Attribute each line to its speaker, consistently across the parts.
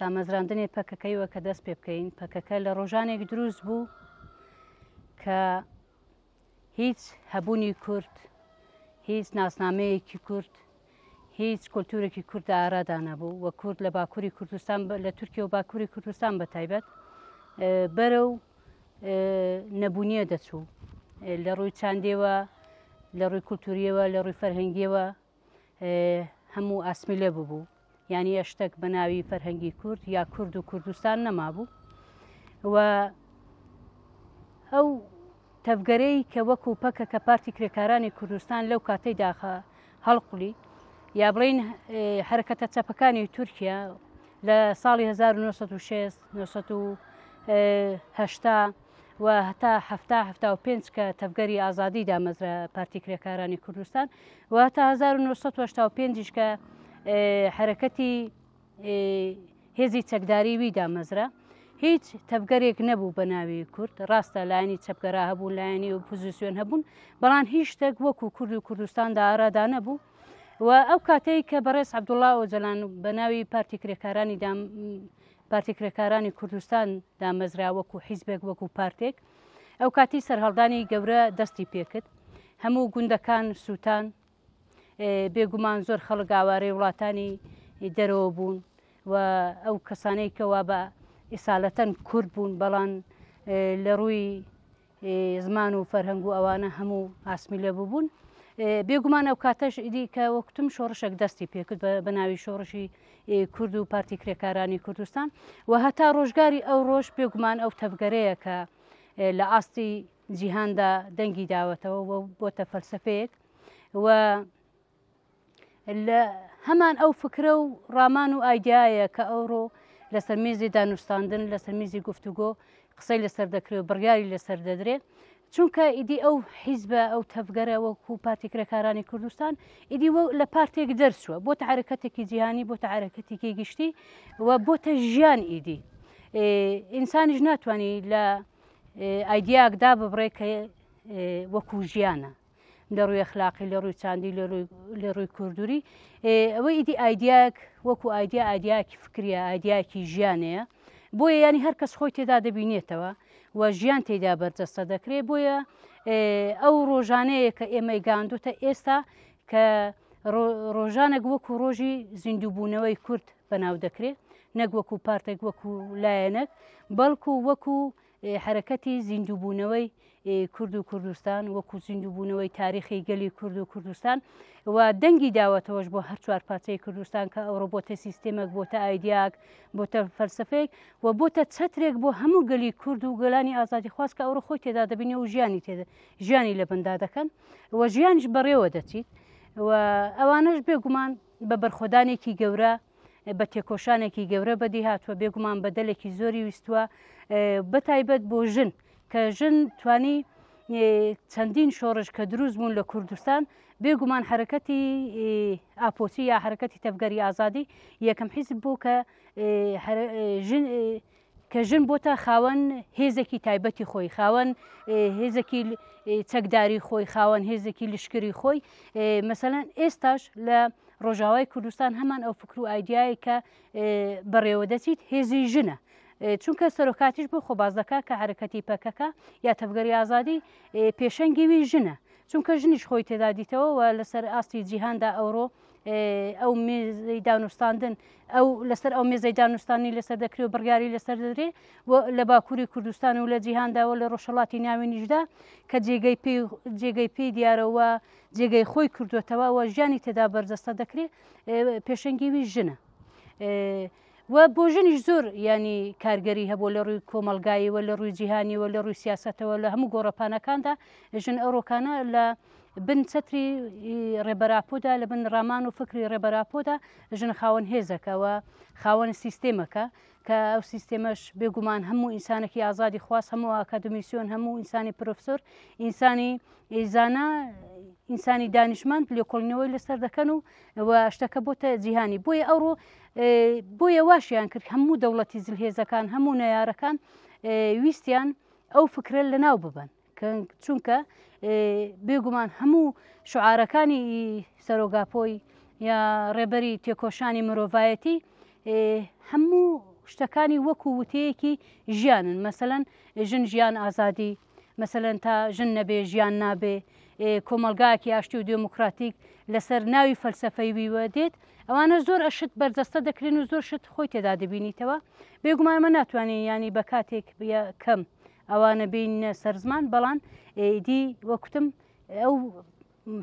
Speaker 1: دامەزراندنی پەکەکەی وە کە دەست پێ بکەین پەکەکە لە ڕۆژانێک دروست بوو کە هیچ هەبوونی کورد هیچ ناسنامەیەکی کورد هیچ کولتورێکی کورد ئارادا نەبوو وە کورد لە باکووری کوردستان لە تورکیا و باکووری کوردستان بە تایبەت بەرە و نەبوونیە دەچوو لە ڕووی چاندێوە لە ڕووی کولتوریەوە لە ڕووی فەرهنگیەوە هەموو ئاسمی لێ ببوو یعنی ئەشتەک بە ناوی فەرهەنگی کورد یا کورد و کوردستان نەمابوو و ئەو تەفگەرەی کە وەکو پەکە کە پارتی کرێکارانی کوردستان لەو کاتەی داخە هەڵقلی یا بڵین حرەکەتە چەپەکانی تورکیا لە ساڵی 1960 1970 و هەتا هەفتا هەفتا و پێنج کە تەڤگەری ئازادی دامەزرا پارتی کرێکارانی کوردستان و هەتا 1995 کە حرەکەتی هێزی چەکداری وی دامەزرا هیچ تەبگەرێک نەبوو بە ناوی کورد ڕاستە لایەنی چەپگەرا هەبوو لایەنی و پوزیسیۆن هەبوون بەڵان هیچ شتێک وەکو کورد و کوردستاندا ئارادا نەبوو و ئەو کاتەی کە بەڕێز عبدوڵا ئۆجلان بە ناوی پارتی کرێکارانی دام پارتی کرێکارانی کوردستان دامەزرا وەکو حیزبێک وەکو پارتێک ئەو کاتی سەرهەڵدانی گەورە دەستی پێکرد هەموو گوندەکان سووتان بێگومان زۆر خەڵک گاوارەی وڵاتانی دەرەوە بوون و ئەو کەسانەی کەوا بە ئیسالەتەن کورد بوون بەڵان لە ڕووی زمان و فەرهەنگ و ئەوانە هەموو ئاسمیلە بووبوون بێگومان ئەو کاتەش ئیدی کە وەکتم شۆڕشێک دەستی پێکرد بە ناوی شۆڕشی کورد و پارتی کرێکارانی کوردستان و هەتا ڕۆژگاری ئەو ڕۆژ بێگومان ئەو تەبگەرەیە کە لە ئاستی جیهاندا دەنگی داوەتەوە بۆتە فەلسفەیەک و لە هەمان ئەو فکرە و ڕامان و ئایدایە کە ئەوڕۆ لەسەر میزی دانوستاندن لەسەر میزی گفتوگۆ قسەی لەسەر دەکرێت و بڕیاری لەسەر دەدرێت چونکە ئیدی ئەو حیزبە ئەو تەفگەرە وەکو پارتی کرێکارانی کوردستان ئیدی لە پارتێک دەرچووە بۆ تەعرەکەتێکی جیهانی بۆ تەعرەکەتێکی گشتی و بۆتە ژیان ئیدی ئینسانیش ناتوانانی لە ئایدیاکدا ببڕێ کە وەکو ژیانە لە ڕووی اخلاقی لە ڕووی چاندی لە ڕووی کوردوری ئەوەی ئیدی ئایدیاک وەکو ئایدیا ئایدیاکی فکریە ئایدیاکی ژیانەیە بۆیە ینی هەر کەس خۆی تێدا دەبینێتەوە و ژیان تێدا بەرجەستە دەکرێت بۆیە ئەو ڕۆژانەیە کە ئێمەی گاندوتە ئێستا کە ڕۆژانێک وەکو ڕۆژی زیندووبوونەوەی کورد بەناو دەکرێت نەک وەکو پارتێک وەکو لایەنەک بەڵکو وەکو حەرەکەتی زیندووبوونەوەی کورد و کوردستان وەکو زیندووبوونەوەی تاریخی گەلی کورد و کوردستان و دەنگی داوەتەوەش بۆ هەر چوار پارچەی کوردستان کە ئەوڕۆ بۆتە سیستمێک بۆتە ئایدیاک بۆتە فەلسفەیەک و بۆتە چەترێک بۆ هەموو گەلی کورد و گەلانی ئازادی خواست کە ئەوڕۆ خۆی تێدا دەبینێ و ژیانی تێدا ژیانی لە بندا دەکەن و ژیانش بەڕێوە دەچیت و ئەوانش بێگومان بە بەرخۆدانێکی گەورە بە تێکۆشانێکی گەورە بەدی هاتووە بێگومان بەدەلێکی زۆری ویستووە بە تایبەت بۆ ژن کە ژن توانی چەندین شۆڕش کە دروست بوون لە کوردستان بێگومان حرەکەتی ئاپۆچی یا حرەکەتی تەبگەری ئازادی یەکەم حیزب بوو کە کە ژن بۆتە خاوەن هێزێکی تایبەتی خۆی خاوەن هێزێکی چەکداری خۆی خاوەن هێزێکی لشکری خۆی مەسەەن ئێستاش لە ڕۆژاوای کوردستان هەمان ئەو فکر و ئایدایە کە بەڕێوە دەچیت هێزی ژنە چونکە سەرۆکاتیش بۆ خۆبازدەکە کە حرەکەتی پەکەکە یا تەبگەری ئازادی پێشەنگیوی ژنە چونکە ژنیش خۆی تێدا دیتەوە و لەسەر ئاستی جیهاندا ئەوڕۆ ئەو مێزەی دانوستاندن ئەو لەسەر ئەو مێزەی دانوستانی لەسەر دەکری و بڕیاری لەسەر دەدرێ لە باکووری کوردستان و لە جیهانداوە لە ڕۆژهڵاتی ناوی نیشدا کە جێگەی پێ جێگەی پێی دیارەوە جێگەی خۆی کردوێتەوە و ژیانی تێدا بەرجەستە دەکرێت پێشنگیوی ژنە. و بۆ ژنیش زۆر ینی کارگەری هەبوو لە ڕووی کۆمەلگاییەوە لە ڕووی جیهانیەوە لە ڕووی سیاستەوە لە هەموو گۆڕەپانەکاندا ژن ئەوڕۆکانە لە بن چەتری ڕێبەراپۆدا لە بن ڕامان و فکری ڕێبەراپۆدا ژن خاوەن هێزەکەەوە خاوەن سیستێمەکە کە ئەو سیستێمەش بێگومان هەموو ئینسانێکی ئازادی خواز هەموو ئاکادمیسیۆن هەموو ئینسانی پرۆفسۆر ئینسانی ئیزانە ئینسانی دانیشمەند لێکۆڵینەوەی لەسەر دەکەن و و شتەکە بۆتە جیهانی بۆیە ئەوڕۆ بۆیە واشیان کرد هەموو دەوڵەتی زلهێزەکان هەموو نەیارەکان ویستیان ئەو فکرە لە ناو ببن چونکە بێگومان هەموو شعارەکانی سەرۆگاپۆی یا ڕێبەری تێکۆشانی مرۆڤایەتی هەموو شتەکانی وەکو وتەیەکی ژیانن مەسەەن ژن ژیان ئازادی مەسەلەن تا ژن نەبێ ژیان نابێ کۆمەلگاکی ئاشتی و دموکراتیک لەسەر ناوی فەلسفەی ویوە دێت ئەوانە زۆر ئەشت بەرجەستە دەکرێن و زۆر شت خۆی تێدا دەبینیتەوە بێگومانمە ناتوانین ینی بە کاتێک کەم ئەوانە بینە سەرزمان بەڵان ئیدی وەکوتم ئەو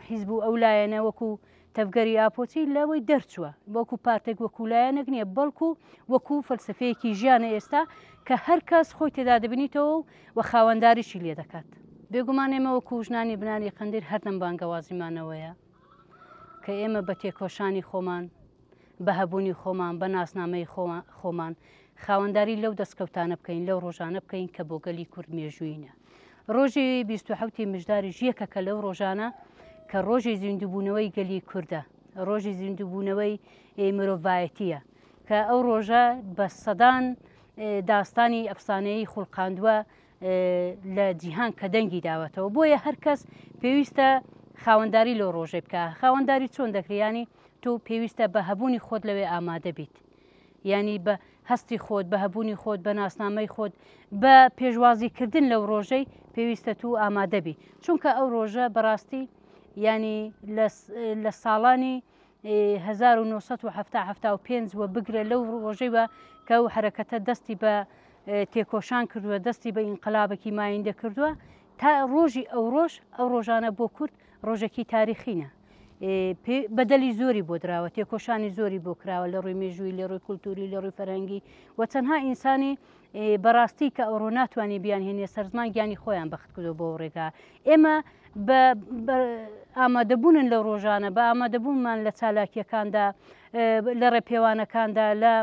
Speaker 1: حیزب و ئەو لایەنە وەکو تەڤگەری ئاپۆچی لەوەی دەرچووە وەکو پارتێک وەکو لایەنەک نییە بەڵکو وەکو فەلسفەیەکی ژیانە ئێستا کە هەر کەس خۆی تێدا دەبنیتەوە و خاوەنداریشی لێ دەکات بێگومان ئێمە وەکو ژنانی بناری قندیر هەردەم بانگەوازیمانەوەیە کە ئێمە بە تێکۆشانی خۆمان بە هەبوونی خۆمان بە ناسنامەی خۆمان خاوەنداری لەو دەستکەوتانە بکەین لەو ڕۆژانە بکەین کە بۆ گەلی کورد مێژووینە ڕۆژی بیست و حەوتی مژداریش یەکەکە لەو ڕۆژانە کە ڕۆژی زیندووبوونەوەی گەلی کووردە ڕۆژی زیندووبوونەوەی مرۆڤایەتیە کە ئەو ڕۆژە بە سەدان داستانی ئەفسانەیی خوڵقاندووە لە جیهان کە دەنگی داوەتەوە بۆیە هەرکەس پێویستە خاوەنداری لۆ ڕۆژێ بکە خاوەنداری چۆن دەکریانی تۆ پێویستە بە هەبوونی خۆت لەوێ ئامادە بیت یانی بە هەستی خۆت بە هەبوونی خۆت بە ناسنامەی خۆت بە پێشوازیکردن لەو ڕۆژەی پێویستە تو ئامادەبی چونکە ئەو ڕۆژە بەڕاستی ینی لە ساڵانی 1970 وە بگرە لەو ڕۆژەی بە کە ئەو حرەکەتە دەستی بە تێکۆشان کردووە دەستی بە ئینقلابێکی مایندە کردووە تا ڕۆژی ئەو ڕۆژ ئەو ڕۆژانە بۆ کورد ڕۆژەکی تاریخینە بەدەلی زۆری بۆ دراوە تێکۆشانی زۆری بۆ کراوە لە ڕووی مێژووی لە ڕووی کولتوری لە ڕووی فەرەنگی و چەندها ئینسانی بەڕاستی کە ئەوڕۆ ناتوانانی بیان هێنێ سەرزمان گیانی خۆیان بەخت کردو بۆ ڕێگا ئێمە ئامادەبوونن لە ڕۆژانە بە ئامادەبوونمان لە چالاکیەکاندا لە ڕێپێوانەکاندا لە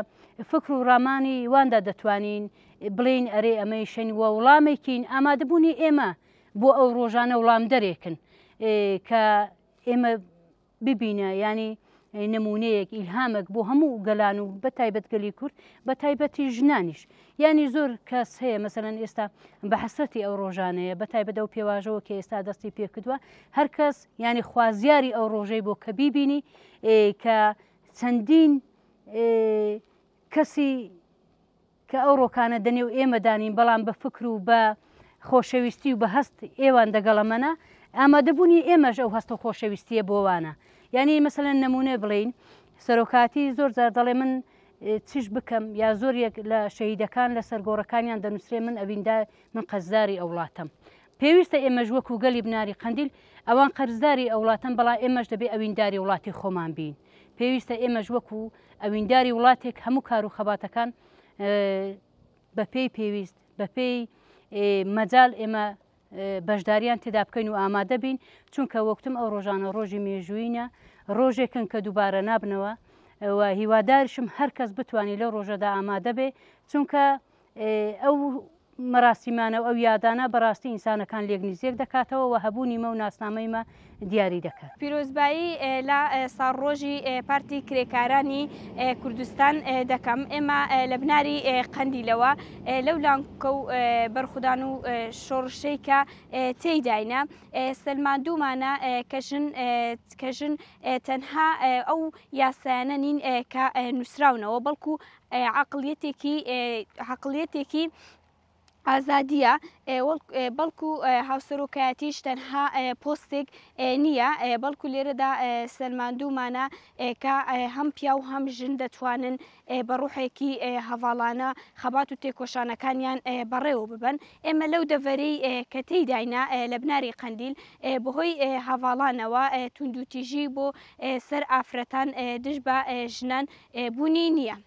Speaker 1: فکر و ڕامانی واندا دەتوانین بڵین ئەرێ ئەمەی شەنی وە وڵامێکین ئامادەبوونی ئێمە بۆ ئەو ڕۆژانە وڵامدەرێکن کە ئێمە ببینە ینی نمونەیەک ئیلهامەک بۆ هەموو گەلان و بە تایبەت گەلی کورد بە تایبەتی ژنانیش ینی زۆر کەس هەیە مەسەن ئێستا بە حسرەتی ئەو ڕۆژانەیە بە تایبەت ئەو پێواژەوە کە ئێستا دەستی پێکردووە هەر کەس ینی خوازیاری ئەو ڕۆژەی بۆ کە بیبینی کە چەندین کەسی کە ئەو ڕۆکانە دە نێو ئێمەدا نین، بەڵام بە فکر و بە خۆشەویستی و بە هەست ئێوان دەگەڵەمەنە، ئامادەبوونی ئێمەش ئەو هەست و خۆشەویستییە بۆوانە. یانی مەسەلەن نموونە بڵێین، سەرۆکایەتی زۆر جار دەڵێ من چش بکەم یا زۆر یەک لە شەهیدەکان لە سەرگۆڕەکانیان دەنووسرێ من ئەویندا من قەرزداری ئەو وڵاتەم. پێویستە ئێمەش وەکو گەلی بناری قەندیل، ئەوان قەرزداری ئەوڵاتەن بەڵام ئێمەش دەبێ ئەوینداری وڵاتی خۆمان بین. پێویستە ئێمەش وەکو ئەوینداری وڵاتێک هەموو کارو خەباتەکان بە پێی پێویست، بە پێی مەجال ئێمە بەشداریان تێدا بکەین و ئامادە بین چونکە وەکتم ئەو ڕۆژانە ڕۆژی مێژووینە ڕۆژێکن کە دووبارە نابنەوە و هیوادارشم هەر کەس بتوانێت لەو ڕۆژەدا ئامادە بێ چونکە ئەو مەراسیمانە و ئەو یادانە بەڕاستی ئینسانەکان لێک نزیێک دەکاتەوە و هەبوونی مە و ناسنامەیمە دیاری دەکات پیرۆزبایی
Speaker 2: لە ساڕۆژی پارتی کرێکارانی کوردستان دەکەم ئێمە لە بناری قەندیلەوە لەو لانکە و بەرخودان و شۆڕشەی کە تێداینە سلماندومانە کەژن کەژن تەنها ئەو یاسایانە نین کە نووسراونەوە بەڵکو عەقڵیەتێکی عەقڵیەتێکی ئازادیە بەڵکو هاوسەرۆکایەتیش تەنها پۆستێک نیە بەڵکو لێرەدا سەلماندومانە کە هەم پیاو و هەم ژن دەتوانن بە ڕوحێکی هەڤاڵانە خەبات و تێکۆشانەکانیان بەڕێوە ببەن ئێمە لەو دەڤەرەی کە تێیداینە لە بناری قەندیل بەهۆی هەڤاڵانەوە توندوتیژی بۆ سەر ئافرەتان دژ بە ژنان بوونی نییە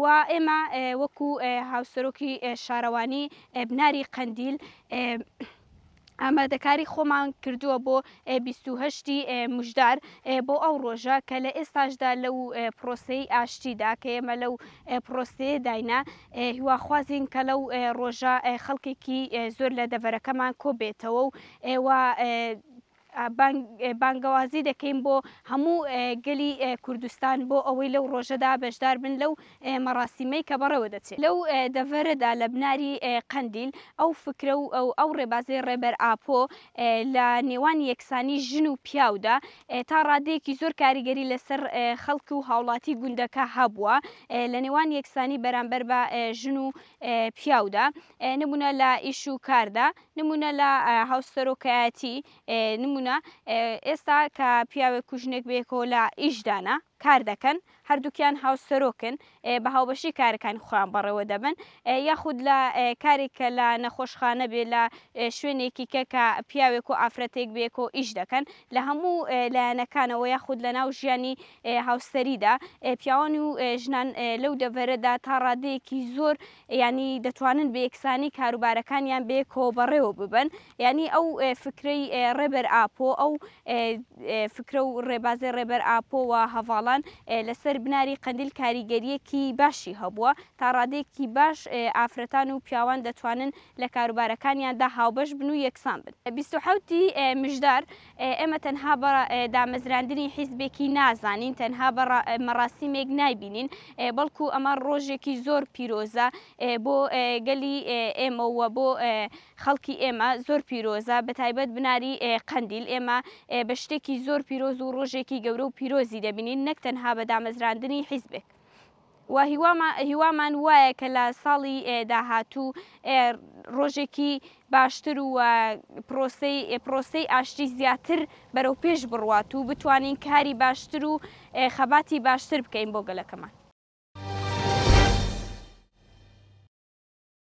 Speaker 2: و ئێمە وەکو هاوسەرۆکی شارەوانی بناری قەندیل ئامادەکاری خۆمان کردووە بۆ 28 مژدار بۆ ئەو ڕۆژە کە لە ئێستاشدا لەو پرۆسەی ئاشتیدا کە ئێمە لەو پرۆسەیە داینا هیواخوازین کە لەو ڕۆژە خەڵکێکی زۆر لە دەڤەرەکەمان کۆبێتەوە و بانگەوازی دەکەین بۆ هەموو گەلی کوردستان بۆ ئەوەی لەو ڕۆژەدا بەشدار بن لەو مەڕاسیمەی کە بەڕێوە دەچێت لەو دەڤەرەدا لە بناری قەندیل، ئەو فکرە و ئەو ڕێبازەی ڕێبەر ئاپۆ لە نێوان یەکسانی ژن و پیاودا تا ڕادەیەکی زۆر کاریگەری لەسەر خەڵک و هاوڵاتی گوندەکە هەبووە لە نێوان یەکسانی بەرامبەر بە ژن و پیاودا نمونە لە ئیش و کاردا، نمونە لە هاوسەرۆکایەتی نمونە ئێستا کە پیاوێک کوژنێک بێکەوە لە ئیشدانە کار دەکەن هەردووکیان هاوسەرۆکن بە هاوبەشی کارەکانی خۆیان بەڕێوە دەبن یاخود لە کارێک کە لە نەخۆشخانە بێ لە شوێنێکی کە کە پیاوێک و ئافرەتێک بێک و ئیش دەکەن لە هەموو لایەنەکانەوە یاخود لە ناو ژیانی هاوسەریدا پیاوان و ژنان لەو دەڤەرەدا تا ڕادەیەکی زۆر یانی دەتوانن بە یەکسانی کاروبارەکانیان بەیەکەوە بەڕێوە ببەن یانی ئەو فکرەی ڕێبەر ئاپۆ ئەو فکرە و ڕێبازی ڕێبەر ئاپۆ و هەڤاڵان لەسەر بناری قەندیل کاریگەریەکی باشی هەبووە تا ڕادەیەکی باش ئافرەتان و پیاوان دەتوانن لە کاروبارەکانیاندا هاوبەش بن و یەکسان بن بیست و حەوت ی مژدار. ئێمە تەنها بە دامەزراندنی حیزبێکی نازانین، تەنها بە مەراسیمێک نایبینین، بەڵکو ئەمە ڕۆژێکی زۆر پیرۆزە بۆ گەلی ئێمە و بۆ خەڵکی ئێمە زۆر پیرۆزە، بەتایبەت بناری قەندیل، ئێمە بە شتێکی زۆر پیرۆز و ڕۆژێکی گەورە و پیرۆزی دەبینین، نەک تەنها بە دامەزراندنی حیزبێک. وە هیوامان وایە کە لە ساڵی داهاتوو ڕۆژێکی باشتر و پرۆسەی ئاشتی زیاتر بەرەو پێش بڕوات و بتوانین کاری باشتر و خەباتی باشتر بکەین بۆ گەلەکەمان.